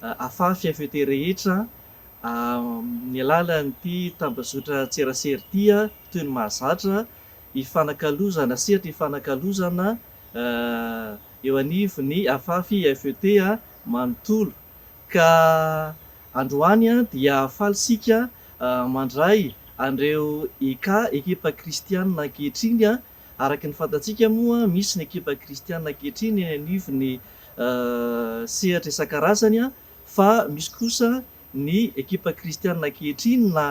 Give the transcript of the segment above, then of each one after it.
afafy FET rehetra amin'ny alalan'ity tambazotran-tserasera ity toy ny mahazatra hifanakalozana sehatra hifanakalozana eo anivon'ny afafy FET manontolo ka androany dia faly isika mandray an'ireo EK, Ekipa Kristianina Ankehitriny, Araka ny fantatsika moa, misy ny ekipa kristiana ankehitriny eny anivon'ny sehatra isan-karazany, fa misy kosa ny ekipa kristiana ankehitriny na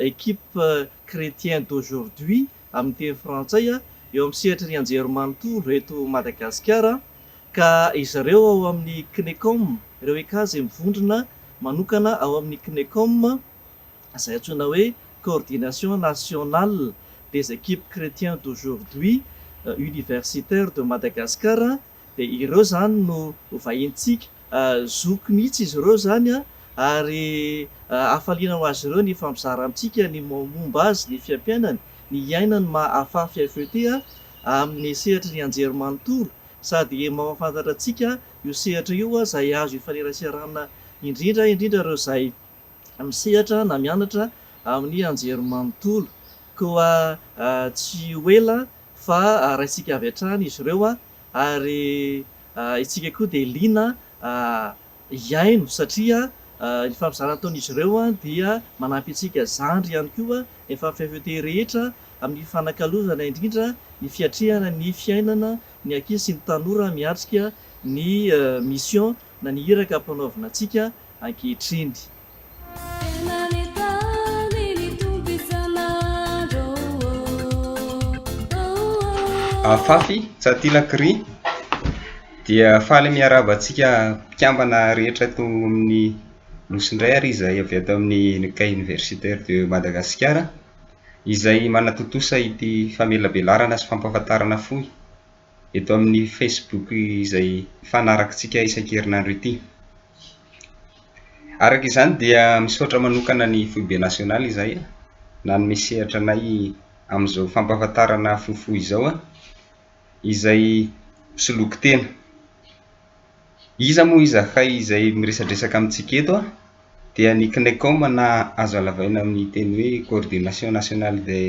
équipe chrétien d'aujourd'hui amin'ny teny frantsay, eo amin'ny sehatry ny anjerimanontolo eto Madagasikara, ka izareo ao amin'ny CNECOM, ireo ECAs mivondrona manokana ao amin'ny CNECOM, izay antsoina hoe Coordination Nationale des Equipes Chrétiens d'Aujourd'hui Universitaires de Madagascar dia ireo izany no hovahintsika, zoky mihitsy izy ireo izany ary hafaliana ho azy ireo ny hifampizara amintsika ny momba azy, ny fiampiainany, ny hiainany maha afafy FET amin'ny sehatry ny anjery manontolo sady mampahafantatra antsika io sehatra io izay azo ifaneraserana indrindra indrindra ireo izay misehatra na mianatra amin'ny anjerimanontolo. Koa tsy ho ela fa raisika avy hatrany izy ireo ary isika koa dia liana hihaino satria ny fampizarana ataon'izy ireo dia manampy antsika zandry ihany koa efa fefefe rehetra amin'ny fanakalozana indrindra ny fiatrehana ny fiainana ny ankizy sy ny tanora miatrika ny mission na ny iraka ampanaovina antsika ankehitriny. Afafy Tsatilak Ry dia faly miarahaba antsika mpikambana rehetra eto amin'ny Nosy indray ary izahay avy ato amin'ny NK Universitaire de Madagasikara izay manatontosa ity famelabelarana sy fampahafantarana fohy eto amin'ny Facebook izay hifanarakitsika isan-kerinandro ity. Araka izany dia misaotra manokana ny Foibe Nasionaly izahay nanome sehatra anay amin'izao fampahafantarana fohifohy izao izay soloko tena. Iza moa izahay izay miresadresaka amintsika eto dia ny CNECOM na azo halavaina amin'ny teny hoe Coordination Nationale des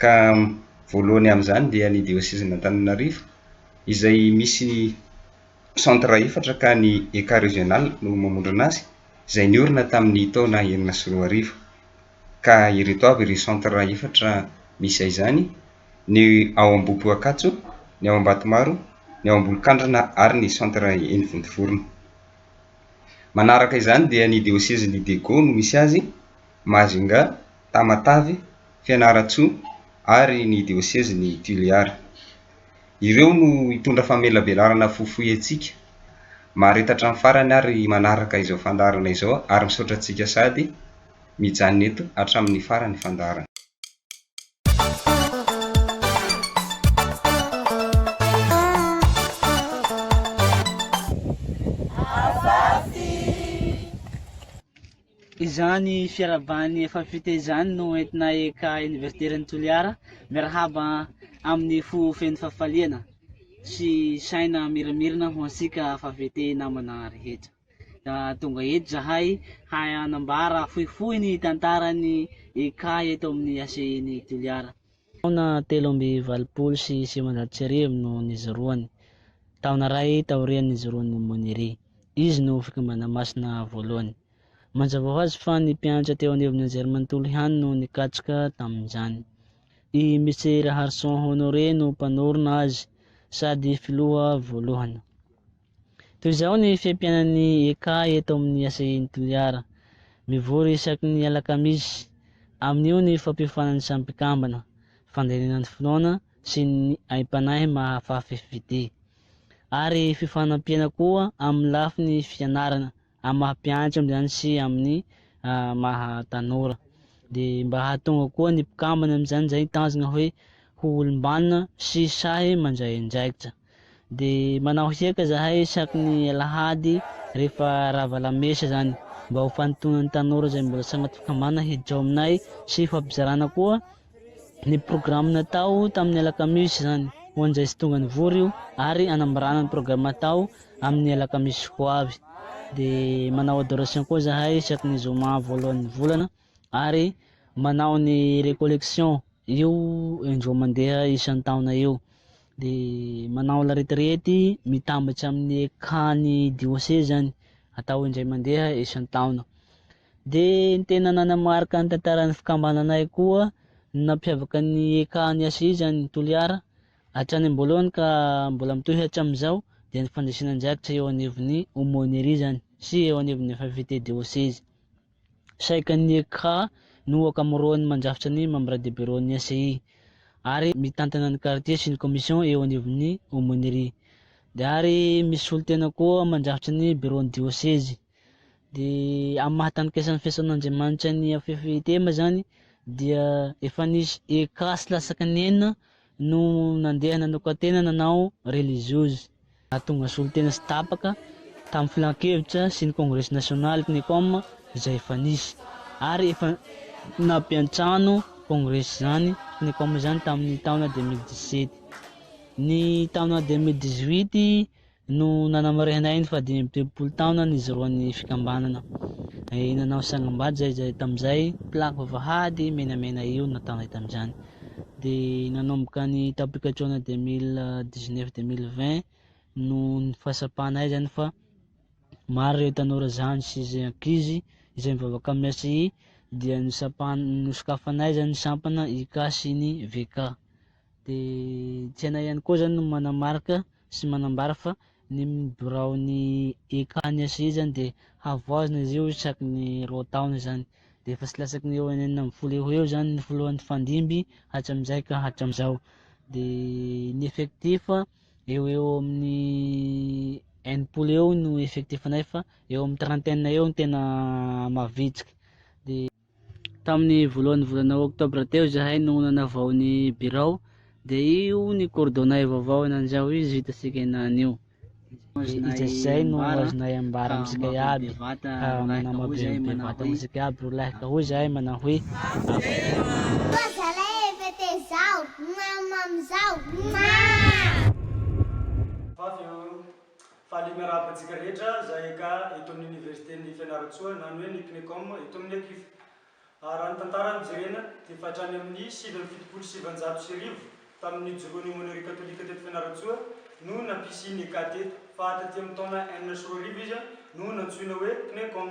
ka voalohany amin'izany dia ny diosezin'Antananarivo izay misy centre efatra ka ny Eca Regional no mamondrona azy izay niorina tamin'ny taona enina sy roa arivo ka ireto avy ireo centre efatra misy aizany ny ao Ambohipoakatso, ny ao Ambatomaro, ny ao Ambolokandrina ary ny centre eny Vontovorona. Manaraka izany dia ny diosezin'i Dego no misy azy, Majunga, Tamatave, Fianarantsoa ary ny diosezin'i Toliara. Ireo no hitondra famelabelarana fohifohy antsika mahareta hatramin'ny farany ary manaraka izao fandaharana izao ary misaotra antsika sady mijanona eto hatramin'ny faran'ny fandaharana. Izany fiarahabany fahafito izany no entinay ka Oniversiteran'i Toliara miarahaba amin'ny fo feno fahafaliana sy saina miramirana ho antsika fahafite namana rehetra. Da tonga eto zahay hanambara fohifohy ny tantaran'ny ECAI eto amin'ny HCI-n'i Toliara. Taona telo amby valopolo sy sivinjato sy arivo no nijoroany, taona iray taorian'ny nijoroan'i Monieri. Izy no Fikambanana Masina voalohany. Mazava ho azy fa ny mpianatra teo anivon'ny anjerimanontolo ihany no nikatroka tamin'izany. I Mister Harson Honoré no mpanorina azy sady filoha voalohany. Toy izao ny fiaimpiainan'i Eka eto amin'ny ACI-n'i Toliara. Mivory isaky ny alakamisy. Amin'io ny fampiofanan'ny samy mpikambana, fandinihana ny fotoana sy ny aim-panahy mahafafy fitia. Ary fifanampiana koa amin'ny lafiny fianarana. amin'ny maha mpianatra moa izany sy amin'ny maha tanora. Dia mba hahatonga koa ny mpikambana amin'izany izay tanjona hoe ho olom-banona sy sahy mandray andraikitra. Dia manao hiaka izahay isaky ny alahady rehefa rava lamesa izany, mba ho fanontona ny tanora izay mbola tsy anaty fikambana hiditra ao aminay sy ho fampizarana koa ny programme natao tamin'ny alakamisy izany ho an'izay tsy tonga nivory io ary anambarana ny programme atao amin'ny alakamisy ho avy de manao adoration koa zahay isaky ny zoma voalohan'ny volana ary manao ny recollection io indroa mandeha isan-taona io de manao la retraite mitambatra amin'ny kany diocese zany atao indray mandeha isan-taona Dia ny tena nanamarika ny tantaran'ny fikambananay koa ny nampiavaka ny EKAn'i Asia izany Toliara hatrany am-boalohany ka mbola mitohy hatramin'izao dia ny fandresena andraikitra eo anivon'ny Aumônerie izany sy eo anivon'ny Faculté Diosezy. Saika ny EKA no ankamoraoan'ny mandrafitra ny Membres de Bureau-n'ny ACI ary mitantana ny Quartier sy ny Commission eo anivon'ny Aumônerie. Ary misolo tena koa mandrafitra ny Bureau-n'ny Diosezy. Dia amin'ny maha tany kaisan'ny fiasan'Andriamanitra ny FFITM zany dia efa nisy ECA sy latsaka nenina no nandeha nanokan-tena nanao religieuse. Nahatonga solontena sy tapaka tamin'ny filan-kevitra sy ny Kongresy Nasionaly Cnecom izay efa nisy. Ary efa nampiantrano Kongresy izany Cnecom izany tamin'ny taona 2017. Ny taona 2018, no nanamarihanay ny fahadimy amby telopolo taona nijoroan'ny fikambanana. Hay nanao sangam-bady izahay izay tamin'izay, plaque vavahady menamena io nataonay tamin'izany. Dia nanomboka ny taom-pikatrohana deux mille dix-neuf deux mille vingt no fahasampanay izany fa maro ireo tanora zandry sy izay ankizy izay mivavaka amin'ny HCI dia nosampana, nosokafanay izany ny sampana IK sy ny VK. Dia tsy ianay ihany koa izany no manamarika sy manambara fa ny biraon'ny EKNHI izany dia havoazina izy io isaky ny roa taona izany. Dia efa tsy latsaky ny eo amin'ny enina ambin'ny folo eo ho eo izany ny filoha nifandimby hatramin'izay ka hatramin'izao. Dia ny effectif eo ho eo amin'ny enimpolo eo no effectif-nay fa eo amin'ny trentaine eo no tena mavitrika. Tamin'ny voalohan'ny volana oktobra teo izahay no nanavao ny birao, dia io ni-coordonner vaovao ananjao io izy hitantsika eny anio. Izay izay no azonay ambara amintsika iaby, ka manamavy ny bevata amintsika iaby roa lahy, ka hoy izahay manao hoe, Avelema! Koa zalahy efa tezao, mamo amizao, maa! Faly miarahaba antsika rehetra izay ka eto amin'ny Oniversiten'i Fianarantsoa na ny hoe ny Cnecom eto amin'ny Acuff. Raha ny tantara no jerena dia efa hatrany amin'ny sivy amby fitopolo sy sivinjato sy arivo tamin'ny nijoroan'ny Aumônerie Katolika teto Fianarantsoa no nampisy ny Eka teto fa taty amin'ny taona enina sy roa arivo izy no nantsoina hoe Cnecom.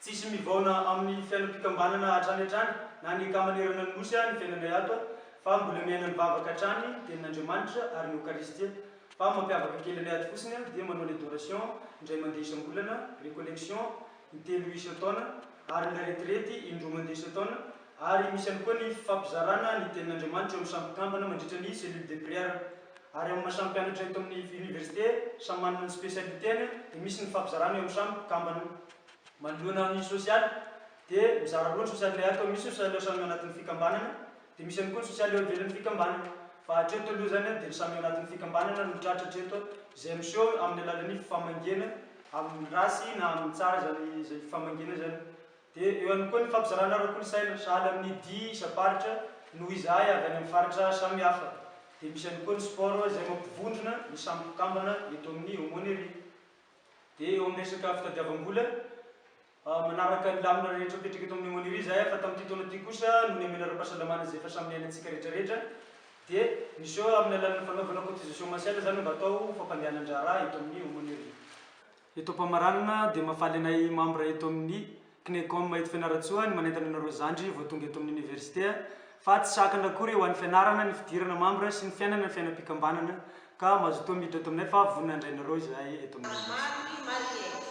Tsisy mivaona amin'ny fiainam-pikambanana hatrany hatrany na ny ka manerana ny Nosy ahy ny fiainanay ato fa mbola miaina mivavaka hatrany tenin'Andriamanitra ary ny Eokaristia fa mampiavaka kely anay ato fotsiny dia manao ny adoration indray mandeha isam-bolana, recollection intelo isan-taona ary ilay retirety indroa mandeha isan-taona Ary misy ihany koa ny fifampizarana ny Tenin'Andriamanitra eo amin'ny samy mpikambana mandritra ny cellule de prière. Ary ao amin'ny maha samy mpianatra eto amin'ny université, samy manana ny spécialité-ny, dia misy ny fifampizarana eo amin'ny samy mpikambana. Manoloana ny sosialy, dia mizara roa ny sosialy rehato, misy ny sosialy eo samy eo anatin'ny fikambanana, dia misy ihany koa ny sosialy eo ivelan'ny fikambanana. Fa hatreto aloha izany dia ny samy eo anatin'ny fikambanana no tratra hatreto, izay miseho amin'ny alalan'ny fifamangiana amin'ny ratsy na amin'ny tsara izany izay fifamangiana izany. Dia eo ihany koa ny fampizarana ara-kolontsaina, sahala amin'ny dihy isam-paritra noho izahay avy any amin'ny faritra samy hafa, dia misy ihany koa ny sport izay mampivondrona ny samy mpikambana eto amin'ny aumônerie. Dia eo amin'ny resaka fitadiavam-bola, manaraka ny lamina rehetra mipetraka eto amin'ny aumônerie izahay fa tamin'ity taona ity kosa noho ny hamehana ara-pahasalamana izay efa samy niainantsika rehetrarehetra dia niseho amin'ny alalan'ny fanaovana cotisation mensuelle izany mba atao fampandehanan-draharaha eto amin'ny aumônerie. Eto Ampamaranana dia mahafaly anay membres eto amin'ny Cnecom eto Fianarantsoa ny manentana anareo zandry vao tonga eto amin'ny Université fa tsy sakana akory ho an'ny fianarana ny fidirana membres sy ny fiainana ny fiainam-pikambanana ka mazotoa miditra eto aminay fa vonona handray anareo izahay eto amin'ny Université. Amary Marie Ève,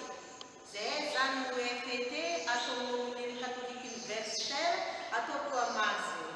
Zahay zany no FET ato amin'ny Catholic Universitaire ato Toamasina.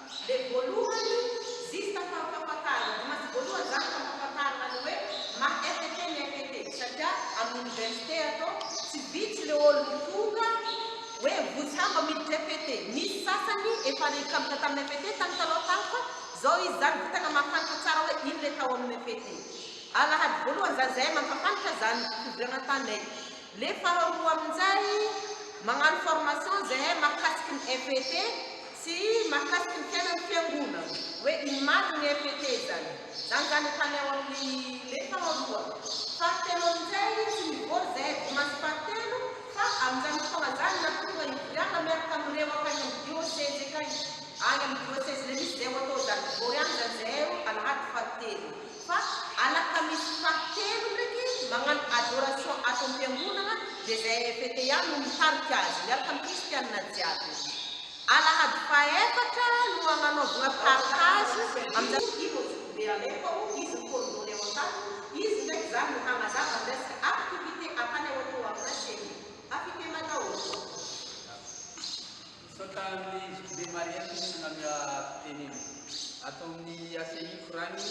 Dia voalohany io zisy tamin'ny fampahafantarana dia maha tsy voalohany izany fampahafantarana ny hoe maha FET ny FET satria amin'ny université atô tsy vitsy le ôlogno tonga hoe vonjy hamba miditra FET misy sasany efa nikamoka tamin'ny FET tany taloha tany fa zao izy izany vao tena mahafantatra tsara hoe ino le tao amin'ny FET alahady voalohany izany zahay mampafantatra izany fidirana tany Le fara roa aminjay magnano formation zahay mahakasiky ny FET sy mahakasiky ny fiainan'ny fiangonana hoe ino marigny ny FET zany zany zany efa ny ao amin'ny le fara roa fara telo aminjay tsy mivory zahay dimanche fara telo fa aminjany fotoagna zany na tonga hivoriagna miaraka amireo akagny amin'ny diocèse akagny agny amin'ny diocèse le misy zay ho atao zany mivory agny zany zahay o alahady fara telo Fa alakamisy faha telo ndreky magnano adoration ato ampiangonana de zay PTA no mitarika azy miaraka am kristianina jiaby. Alahady faha efatra no agnanaovagna partage amin'izany. Izy no tsy be aleo fa o izy no coordonne ao an-tany o, izy ndraiky zany no hagnazava ny resaka activité atany ao an-tohagnana ceni. Apite mada ô! Sao tahan'ny Vodibe Maria Kristina ny fitenena. Ato amin'ny ACI-ko raha ny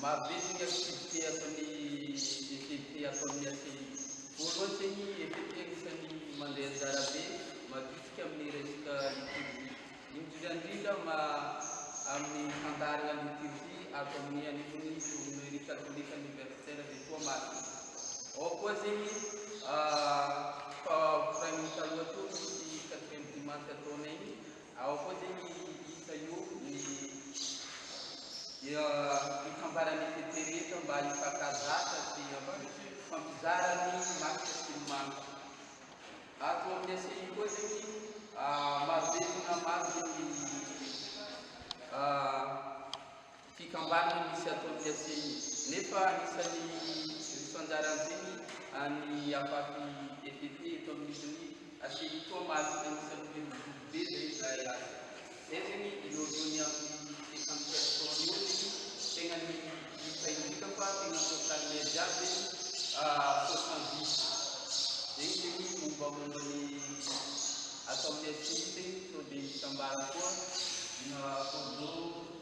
marobe no ny activité ataon'ny ETP ato amin'ny ACI. Voalohany dia ny ETP anisany mandeha anjara be matetika amin'ny resaka liturgie. Indrindra indrindra ma amin'ny fandaharana liturgie ato amin'ny anivon'ny Tory Noely Katolika Aniverivery. Tena be koa marina. Ao koa zegny fa volagny taloha teo nisy quatrième dimanche ataonay igny, ao koa zegny isa io ny fikambaran'ny TT rehetra mba hifankazatra sy hifampizara ny marika sy ny manga. Ato amin'ny CI koa zegny marobe tena maro ny Fikambanana misy ato amin'ny Asie, nefa anisan'ny distriso anjaranjiny any Apapi EPP eto amin'ny Nifiny Asie iny koa mahazo mpanohitra mpiroborobo be izay hizahay azy. Izay ve ny bilaoginy amin'ny fifantoka tsy tao anivon'ny tegnany hita indrindra fa tegna social media ve ny post en vue? Zegny ve ny mombamomba ny ato amin'ny Asie iny zegny no tonga dia mitambara koa ny Porno?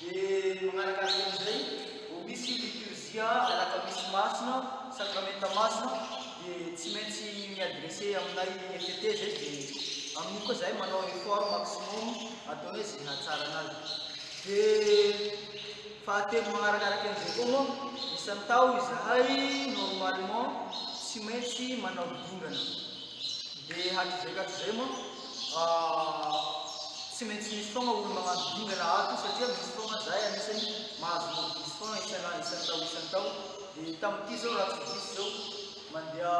Dia manaraka azy amin'izay, vao misy liturgia, alakamisy masina, sakramenta masina, dia tsy maintsy mi-adresser aminay FET izay, dia amin'iny koa izahay manao effort maximum ataony hoe izay hahatsara anazy. Dia fahatelo manarakaraka an'izay koa moa, isan-taona izahay normalement tsy maintsy manao dingana. Dia hatrizay ka hatrizay moa, Tsy maintsy misy foagna olo magnano dingana ato io satria misy foagna zahay agnisany mahazo notice foagna isana isan-tao isan-tao dia tamin'ity zao raha tsy diso zao mandeha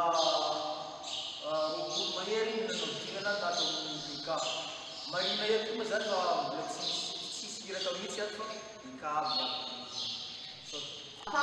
roapolo mahery ny nanao dingana tato amin'ny BK. Marina eto koa moa zany fa mbola tsy misy tsisy iraka mihitsy ato fa BK aby ato. Misaotra.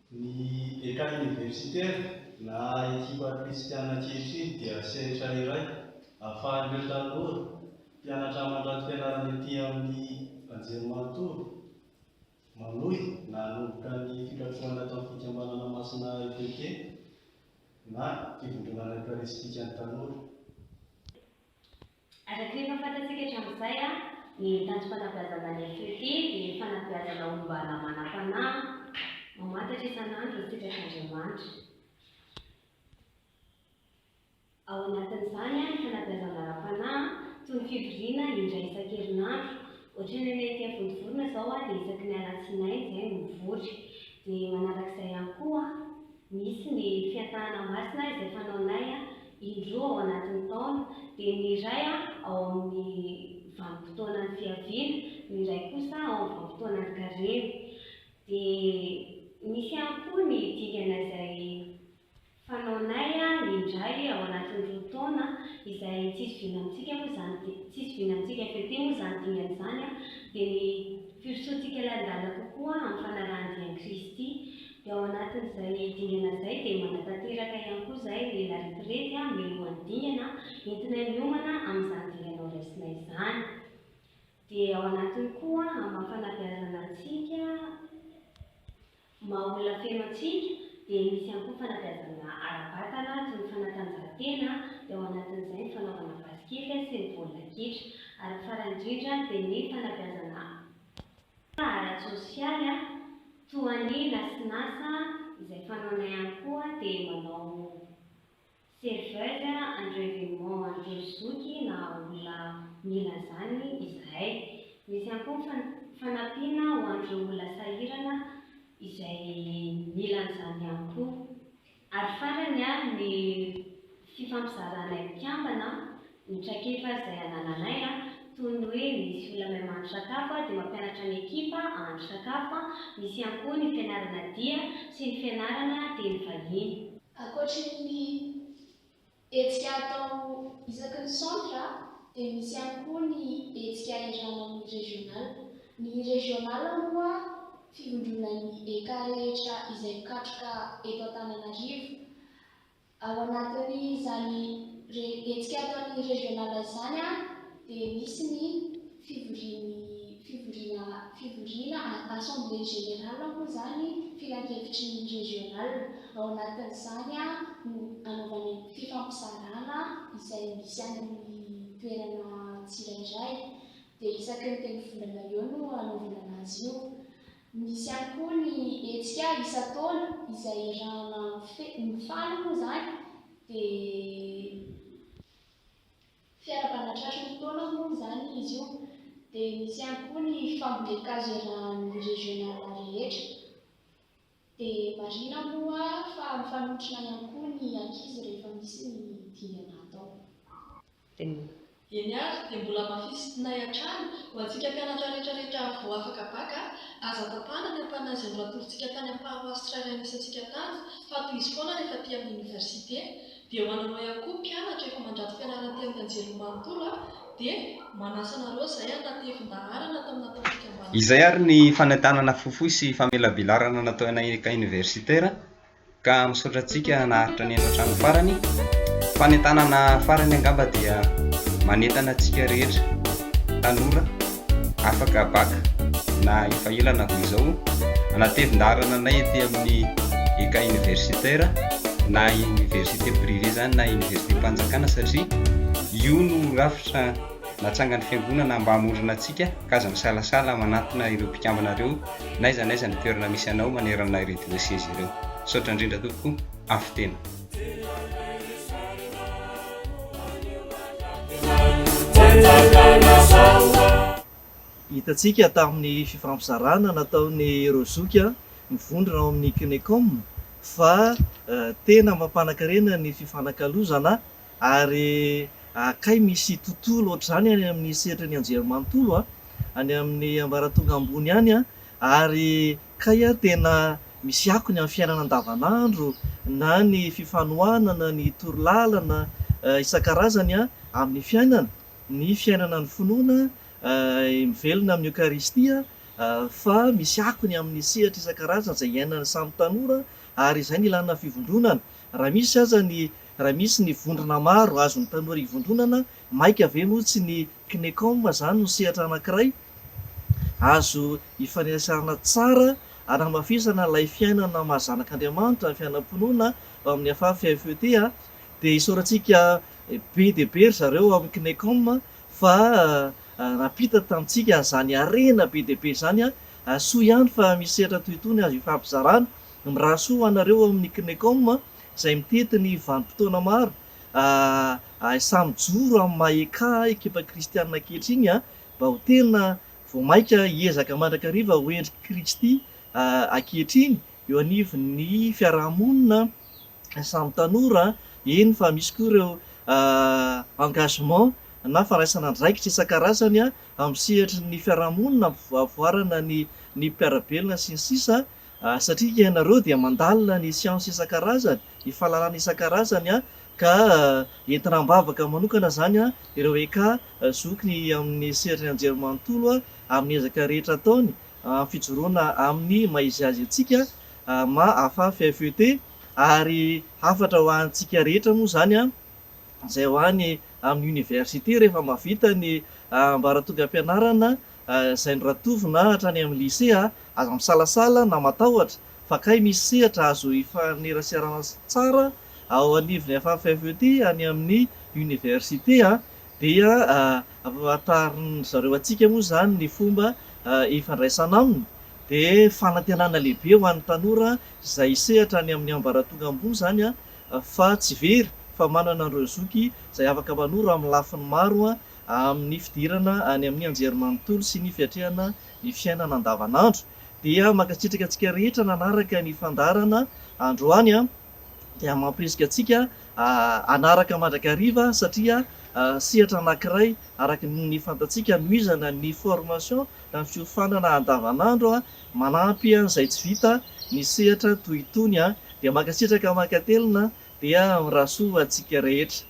Ny Écart Universitaire na Ekipa Kristiana ankehitriny dia sehatra iray ahafahan'ireo tanora mpianatra mandranto fianarana ety amin'ny Anjerimanontolo manohy na hanomboka ny fikatrohana ato amin'ny Fikambanana Masina EPK na Fivondronana Eokaristika ny Tanora. Araka ny efa fantatsika hatramin'izay, ny entatim-panabeazana ny FEP dia fanabeazana ho mbana manam-panahy mamantatra isan'andro ny sitratr'Andriamanitra. Ao anatin'izany ny fanabeazana ara-panahy toy ny fivoriana indray isan-kerinandro. Ohatran'ny any ITF Vontovorona izao dia isaky ny alatsinainy izay no mivory. Dia manarak'izay ihany koa. Misy ny fientahana masina izay fanaonay indroa ao anatin'ny taona, dia ny iray ao amin'ny vanim-potoanan'ny fiaviana, ny iray kosa ao amin'ny vanim-potoanan'ny karemy. Dia misy ihany koa ny dingana izay fanaonay indray ao anatin'ny roa taona, izay tsy zoviana amintsika moa izany, tsy zoviana amintsika avy eo. Dia moa izany dingana izany dia ny firosoantsika lalindalina kokoa amin'ny fanarahan-dian'i Kristy. Dia ao anatin'izay dingana izay dia manatanteraka ihany koa izahay dia naretirety ny lohan'ny dingana entinay miomana amin'izany dingana horaisina izany. Dia ao anatiny koa amin'ny fanabeazana antsika maha olona feno antsika dia misy ihany koa fanabeazana ara-batana toy ny fanatanjahantena, dia ao anatin'izay ny fanaovana basikety sy ny baolina kitra. Ary ny farany indrindra dia ny fanabeazana Fa ara-tsosialy a! Toa ny lasinasa izay fanaonay ihany koa dia manao serveuse andreo événement andreo zoky na olona mila an'izany izahay. Misy ihany koa ny fanampiana ho an'ireo olona sahirana izay mila an'izany ihany koa. Ary farany ary ny fifampizaranay mpikambana ny traikefa izay anananay toy ny hoe misy olona mahay mahandro sakafo dia mampianatra ny ekipa hahandro sakafo, misy ihany koa ny fianarana dia sy ny fianarana teny vahiny. Ankoatry ny. Hetsika atao isaky ny centre dia misy ihany koa ny hetsika iray régional. Ny régional moa fivondronan'ny ECCA rehetra izay mpikatroka eto Antananarivo. Ao anatin'izany hetsika ataon'ny régional izany dia misy ny. fivondrian'ny fivondriana fivondriana Assemblée Générale moa izany filankevitry ny Régional. Ao anatin'izany no anaovany fifampizarana izay misy any amin'ny toerana tsirairay. Dia isaky ny telo-volana eo no anaovana anazy io. Misy ihany koa ny hetsika isan-taona izay erahana mifaly moa izany dia. Fiaravana tratry ny taona moa izany izy io. Dia misy ihany koa ny fambolen-kazo iarahan'ny régional rehetra. Dia marihina moa fa mifanotrona ihany koa ny ankizy rehefa misy ny dingana atao. Dia. Eny ary dia mbola mafisintinay hatrany ho antsika mpianatra rehetra rehetra vao afaka baka, aza tapahana ny ampanazin'ny ratorontsika tany am-paroasy tsirairay misy antsika tany fa tohizo foana rehefa aty amin'ny oniversite. Dia mananao ihany koa mpianatra efa mandrato fianaran-tenin'ny anjely manontolo aho, dia manasa anareo izay hanatevin-daharana tao anatin'ny fikambanana. Izay ary ny fanentanana fohifohy sy famelabelarana natao anay Eka Universitaire, ka misaotra antsika naharitra nihaino hatramin'ny farany. Fanentanana farany angamba dia manentana antsika rehetra tanora, afaka bac na efa ela na vao izao, anatevin-daharana anay ety amin'ny ECA universitaire na université privée izany na université-panjakana satria io no rafitra natsangan'ny fiangonana mba hamondrona antsika ka aza misalasala manantona ireo mpikambana ireo n'aiza n'aiza ny toerana misy anao manerana ireto diocèse ireo. Misaotra indrindra tompoko, Afo tena. Hitantsika tamin'ny fifampizarana nataon'ireo zoky mivondrona ao amin'ny Cnecom fa tena mampanan-karena ny fifanakalozana ary kay misy tontolo ohatr'izany any amin'ny sehatry ny anjerimanontolo, any amin'ny ambaratonga ambony any Ary kay ary tena misy akony amin'ny fiainana andavanandro na ny fifanohanana, ny torolalana isan-karazany amin'ny fiainana, ny fiainana ny finoana, mivelona amin'ny Eokaristia fa misy akony amin'ny sehatra isan-karazany izay iainan'ny samy tanora ary izay no ilana fivondronana. Raha misy aza ny, raha misy ny vondrona maro azon'ny tanora ivondronana Maika ve moa tsy ny Cnecom izany no sehatra anankiray azo ifaniraisarana tsara hanamafisana ilay fiainana maha zanak'Andriamanitra ny fiainam-pinoana ao amin'ny Afa FFET a? Dia isaorantsika be dia be ry zareo ao amin'ny Cnecom fa nampita tamintsika an'izany harena be dia be izany a! Soa ihany fa misy sehatra toy itony azo ifampizarana. Mirary soa ho anareo ao amin'ny Cnecom izay mitety ny vanim-potoana maro Ary sahy mijoro amin'ny maha-ECHA ekipa kristianina ankehitriny mba ho tena vao mainka hiezaka mandrakariva ho endriky Kristy ankehitriny eo anivon'ny fiaraha-monina samy tanora, eny fa misy koa ireo engagement na fandraisan'andraikitra isan-karazany amin'ny sehatry ny fiaraha-monina, ampivoavoarana ny mpiara-belona sy ny sisa Satria ianareo dia mandalina ny siansa isan-karazany, ny fahalalana isan-karazany, ka entina am-bavaka manokana izany ireo EK zokiny amin'ny serin'ny anjerimanontolo amin'ny ezaka rehetra ataony amin'ny fijoroana amin'ny maha izy azy antsika, maha afa FFET, ary hafatra ho antsika rehetra moa izany izay ho any amin'ny oniversite rehefa mahavita ny ambaratongam-pianarana Zainy Ratovo na hatrany amin'ny lycée a! Aza misalasala na matahotra fa kay misy sehatra azo ifanerasehana tsara ao anivon'ny FAFFET any amin'ny Université a! Dia ampifantarin-dry zareo antsika moa izany ny fomba ifandraisana aminy. Dia fanantenana lehibe ho an'ny tanora izay hisehatra any amin'ny ambaratonga ambony izany a! Fa tsy very fa manana an'ireo zoky izay afaka manoro amin'ny lafiny maro amin'ny fidirana any amin'ny anjerimanontolo sy ny fiatrehana ny fiainana andavanandro dia mankasitraka antsika rehetra nanaraka ny fandaharana androany dia mampirisika antsika hanaraka mandrakariva satria sehatra anankiray araka ny fantatsika hanohizana ny formation na ny fiofanana andavanandro manampy an'izay tsy vita ny sehatra toy itony dia mankasitraka mankatelina dia mirahasoa antsika rehetra.